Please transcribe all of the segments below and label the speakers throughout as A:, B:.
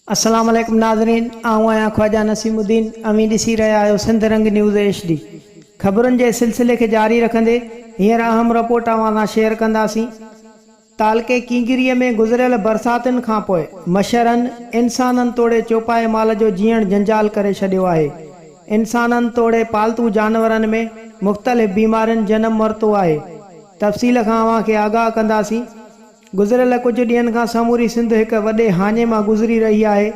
A: السلام عليڪم ناظرين آئون آهيان خواجه نسيم الدين اوهين ڏسي رهيا آهيو Sindh Rang news H D خبرن جي سلسلي کي جاري رکندي هينئر اهم رپورٽ اوهان سان شيئر ڪنداسين تعلقي ڪينگريء ۾ گذريل برساتن کانپوء مڇرن انسانن توڙي چوپائي مال جو جيئڻ جنجال ڪري ڇڏيو آهي. انسانن توڙي پالتو جانورن ۾ مختلف بيمارين جنم ورتو آهي. تفصيل کان اوهان کي آگاهه ڪنداسين. گذريل ڪجهه ڏينهن کان سموري سنڌ هڪ وڏي هاڃي مان گذري رهي آهي.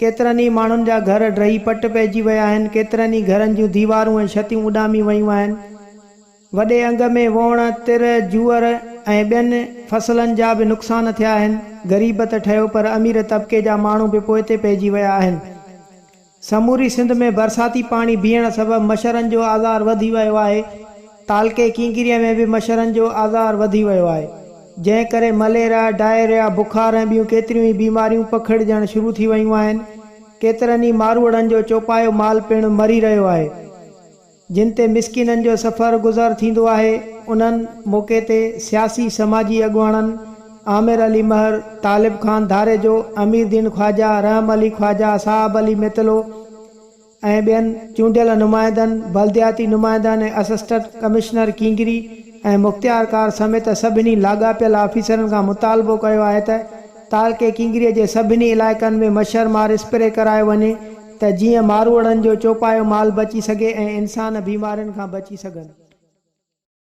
A: ڪيترن ئي ماڻهن جا گهر ڊهي پٽ پئجي ويا آهن، ڪيترن ئي گهرن جون ديوارون ۽ ڇتيون اڏامي ويون آهن. وڏي انگ ۾ ووڻ، تر، جوئر ۽ ٻين فصلن جا به نقصان ٿيا آهن. غريب ته ٺهيو پر امير طبقي جا ماڻهو به پوئتي پئجي ويا آهن. سموري سنڌ ۾ برساتي پاڻي بيهڻ سبب مڇرن جو آزار وڌي ويو آهي. تعلقي ڪينگريء ۾ به مڇرن جو آزار وڌي ويو آهي. جنهن ڪري مليريا، ڊائريا، بخار ۽ ٻيون ڪيتريون ئي بيماريون پکڙجڻ شروع ٿي ويون آهن. ڪيترن ئي ماروئڙن جو چوپايو مال پڻ مري رهيو آهي. جن تي مسڪينن جو سفر گذر ٿيندو آهي، انهن موقعي تي سياسي سماجي اڳواڻن عامر علي مهر، طالب خان ڌاريجو، امير دين خواجه، رحم علي خواجه، صاحب علي متلو ۽ ٻين چونڊيل نمائندن، بلدياتي نمائندن ۽ اسسٽنٽ ڪمشنر ڪينگري ۽ مختيار ڪار سميت سڀني لاڳاپيل آفيسرن کان مطالبو ڪيو آهي ته تعلقي ڪينگري جي سڀني علائقن ۾ مڇرمار اسپري ڪرايو وڃي ته جيئن ماروئڙن جو چوپايو مال بچي سگهي ۽ انسان بيمارين کان بچي سگهن.